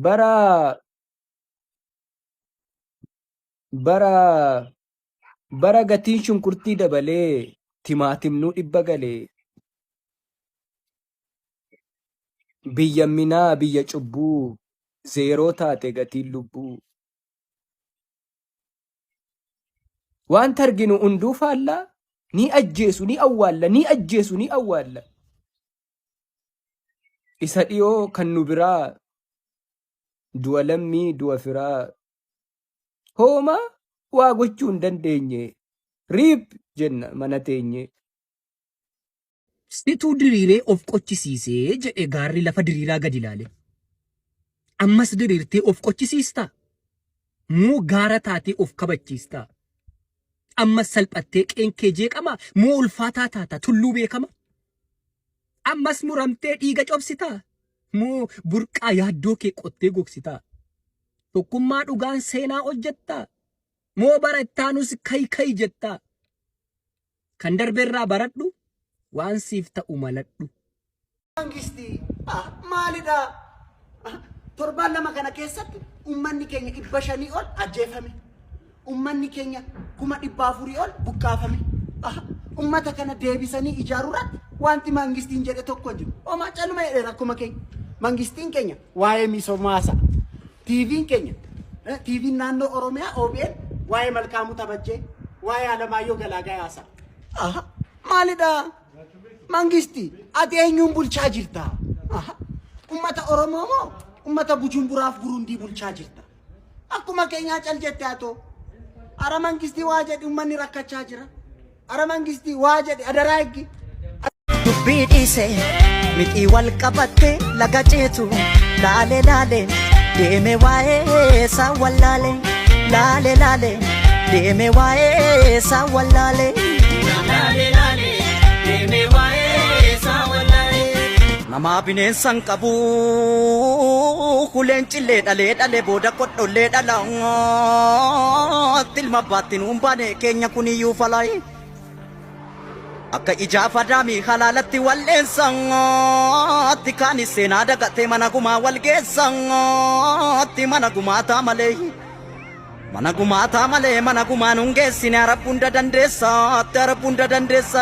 bara bara bara gatiin shunkurtii dabalee timaatimnuu dhibba galee biyya minaa biyya cubbuu zeeroo taate gatiin lubbuu wanta arginu hunduu faallaa ni ajjeesu ni awwaalla ni ajjeesu ni awwaalla Isa dhiyoo kan nu biraa du'a lammii du'a firaa hooma waa gochuu hin dandeenye riip jenna mana teenye. Situu diriiree of qochisiise jedhe gaarri lafa diriiraa gadi ilaale. Ammas diriirtee of qochisiistaa? Moo gaara taatee of kabachiista? Ammas salphattee qeen kee jeeqama? Moo ulfaataa taata tulluu beekama? Ammas muramtee dhiiga cobsita? Moo burqaa yaaddoo kee qottee gogsita? Tokkummaa dhugaan seenaa hojjetta? Moo bara ittaanus kayi kayi jetta? Kan darberraa baradhu waan siif ta'u maladhu. Mangisti ah, maalidha? Ah, Torbaan lama kana keessatti uummanni keenya dhibba shanii ol ajjeefame. Uummanni keenya kuma dhibba afurii ol buqqaafame. Ah, Uummata kana deebisanii ijaaruu irratti wanti mangistiin jedhe tokko hin jiru. Homaa caluma jedhe rakkuma keenya. Mangistiin keenya waa'ee misomaasa TVn keenya eh, TVn naannoo Oromiyaa OBN waa'ee Malkaamuu Tabajjee waa'ee Alamaayyoo Galaagaa yaasaa. Aha, maalidha? Mangisti, ati eenyuun bulchaa jirta? Aha, ummata Oromoo moo ummata Bujumburaaf Burundii bulchaa jirta? Akkuma keenyaa cal jette atoo. Ara mangistii waa jedhi ummanni rakkachaa jira. Ara mangistii waa jedhi adaraa eggi. dubbii dhiise mixii wal qabatte laga ceetu laale laale deeme waa'ee isaa wallaale laale laale deeme waa'ee isaa wallaale. Namaa bineensa hin qabuu Leencillee dhalee dhale booda kodhollee dhala Ilma abbaatti nuun baane keenya kuniyyuu falay Akka ijaaf adaamii halaalatti wal dheensa Kaanis seenaa dagatee mana gumaa wal geessa Mana gumaataa malee Mana gumaataa malee mana gumaa nun geessine Arab hunda dandeessa Arab hunda dandeessa